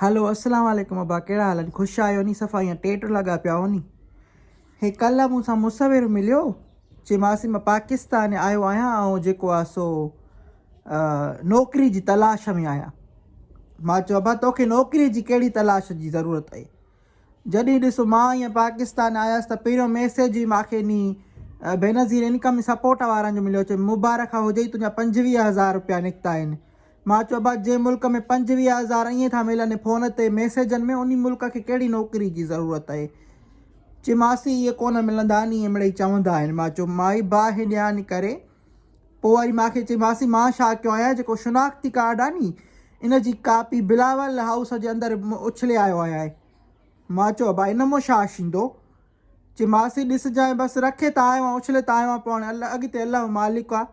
هلو السلام عليڪم ابا ڪهڙا حال آهن خوش آهيو ني صفا ايئن ٽيٽ لڳا پيا آهو ني هي ڪلهه مون سان مصور مليو چي ماسي مان پاڪستان آيو آهيان ۽ جيڪو آهي سو نوڪري جي تلاش ۾ آهيان مان چيو ابا توکي نوڪري جي ڪهڙي تلاش جي ضرورت آهي جڏهن ڏس مان ائين پاڪستان آيس ته پهريون ميسيج ئي ماکي ني بينظير انڪم سپورٽ وارن جو مليو چي مبارڪ هجئي تنهنجا پنجويهه هزار روپيا نڪتا آهن مان چيو بس جنهن ملڪ ۾ پنجويهه هزار ائين ٿا ملن فون تي ميسيجن ۾ انهي ملڪ کي ڪهڙي نوڪري جي ضرورت اهي چي ماسي اهي ڪونه ملندا ني مڙئي چوندا آهن مان چيو مائي باهه ڏيان ڪري پو وري مان کي چي ماسي مان ڇا ڪيو آهيان جيڪو شناختي ڪارڊ آهي ني ان جي ڪاپي بلاول هائوس جي اندر اڇلي آيو آهيان مان چيو ابا ان مون ڇا شيندو چي ماسي ڏسجانء بس رکي ته آيو آهيان اڇلي ته آيو آهيان پو هاڻي اڳتي الله مالڪ آهي.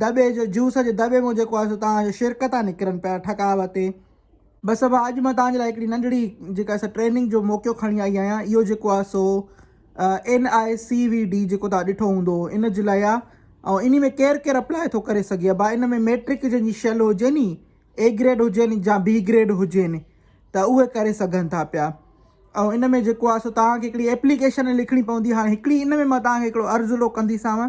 دٻي جو جوس جي دٻي مون جيڪو آهي سو توهان جو شرڪ ٿا نڪرن پيا ٺڪاء وتي. بس ابا اڄ مان توهان جي لاء هڪڙي ننڍڙي جيڪا سا ٽريننگ جو موقعو کڻي آئي آهيان اهو جيڪو آهي سو N I C V D جيڪو توهان ڏٺو هوندو ان جي لاء آهي ۽ انهي ۾ ڪير ڪير اپلاء ٿو ڪري سگهي ابا ان ۾ ميٽرڪ جن جي شل هجي ني اي گريڊ هجين جا بي گريڊ هجين ته اهي ڪري سگهن ٿا پيا ۽ ان ۾ جيڪو آهي سو توهان کي هڪڙي ايپليڪيشن لکڻي پوندي هاڻي هڪڙي ان ۾ مان توهان کي هڪڙو عرض لو ڪنديسانو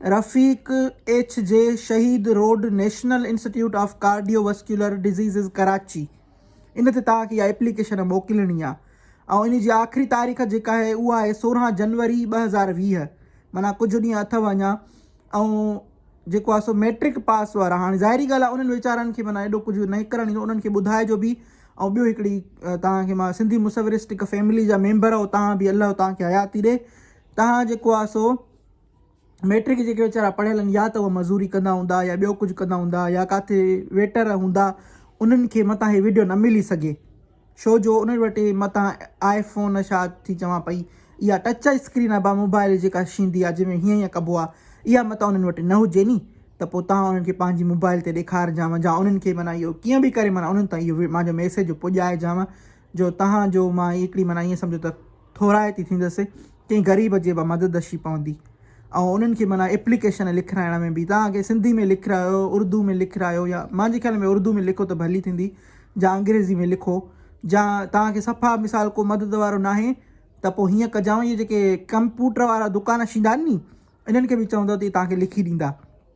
رفيق H J Shaheed road national institute of cardiovascular diseases Karachi ان تي توهان کي اها اپليڪيشن موڪلڻي آهي ۽ ان جي آخري تاريخ جيڪا آهي اها آهي سورهن جنوري ٻه هزار ويهه معنيٰ ڪجهه ڏينهن اٿو اڃا ۽ جيڪو آهي سو ميٽرڪ پاس وارا هاڻي ظاهري ڳالهه آهي انهن ويچارن کي معنيٰ ايڏو ڪجهه نه ڪرڻ ايندو انهن کي ٻڌائجو به ۽ ٻيو هڪڙي توهان کي مان سنڌي مصورسٽڪ فيملي جا ميمبر آهو توهان به الله توهان کي حياتي ڏي توهان جيڪو آهي سو مئٽرڪ جيڪي ويچارا پڙهيل آهن يا ته اهي مزوري ڪندا هوندا يا ٻيو ڪجهه ڪندا هوندا يا ڪاٿي ويٽر هوندا انهن کي متان هي وڊيو نه ملي سگهي شو جو انهن وٽ متان آئي فون شا ٿي چوان پئي اها ٽچ اسڪرين ابا موبائل جيڪا شيندي آ جنهن ۾ هيئن هيئن ڪبو آ اها متان انهن وٽ نه هجي ني ته پو تان انهن کي پنهنجي موبائل تي ڏيکارجان جا انهن کي معنيٰ اهو ڪيئن به ڪري معنيٰ انهن تان اهو مانجو ميسيج پڄائجان جو تهان جو مان هڪڙي معنيٰ ائين سمجهو ته ٿورائتي ٿيندس ڪنهن غريب جي به مدد اشي پوندي ۽ انهن کي معنيٰ اپليڪيشن لکرائڻ ۾ به تهان کي سنڌي ۾ لکرايو اردو ۾ لکرايو يا مانجي خيال ۾ اردو ۾ لکو ته ڀلي ٿيندي جا انگريزي ۾ لکو جا تهان کي صفا مثال ڪو مدد وارو ناهي ته پوء هيئن ڪجانء اهي جيڪي ڪمپوٽر وارا دڪان شيندا آهن ني انهن کي به چوندو ته تهان کي لکي ڏيندا.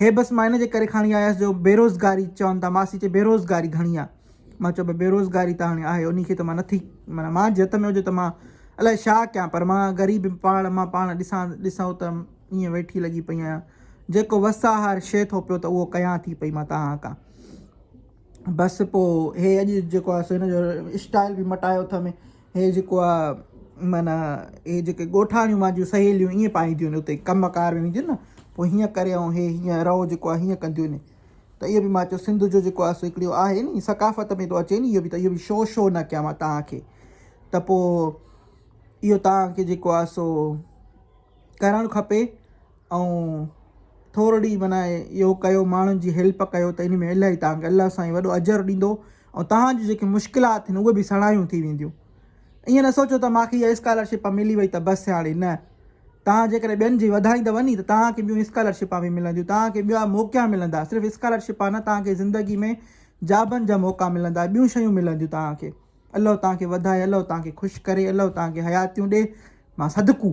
هي بس مان ان جي ڪري کڻي آيس جو بيروزگاري چون ٿا ماسي چي بيروزگاري گهڻي آ مان چيو ڀاء بيروزگاري ته هاڻي آهي انهي کي ته مان نٿي معنيٰ مان جي هٿ ۾ هجي ته مان الاء ڇا ڪيان پر مان غريب پاڻ مان پاڻ ڏسان ڏسو ته ائين ويٺي لڳي پئي آهيان جيڪو وس آهار شيء ٿو پيو ته اهو ڪيان ٿي پئي مان تهان کان بس پو هي اڄ جيڪو آ سو هن جو اسٽائيل به مٽايو اٿم هي جيڪو آ معنيٰ هي جيڪي ڳوٺاڻيون مانجيون سهيليون ائين پائينديون آهن اتي ڪم ڪار ۾ وينديون نه پو هيئن ڪري ۽ هي هيئن رئو جيڪو آ هيئن ڪنديون آهن ته اهو به مان چيو سنڌ جو جيڪو آ سو هڪڙي اهو آهي ني ثقافت ۾ ٿو اچي ني اهو به ته اهو به شو شو نه ڪيان مان توهان کي ته پو اهو توهان کي جيڪو آ سو ڪرڻ کپي ائون ٿورڙي معنيٰ اهو ڪيو ماڻهن جي هيلپ ڪيو ته ان ۾ الاهي توهان کي الله سائين وڏو اجر ڏيندو ۽ توهان جون جيڪي مشڪلات آهن اهي به سڻايون ٿي وينديون ائين نه سوچو ته ماکي اها اسڪالرشپ ملي وئي ته بس هاڻي نه توهان جيڪڏهن ٻين جي وڌائيندو ني ته توهان کي ٻيون اسڪالرشپ به ملنديون توهان کي ٻيا موقعا ملندا صرف اسڪالرشپ نه توهان کي زندگي ۾ جابن جا موقعا ملندا ٻيون شيون ملنديون توهان کي الله توهان کي وڌائي الله توهان کي خوش ڪري الله توهان کي حياتيون ڏي ماء صدقو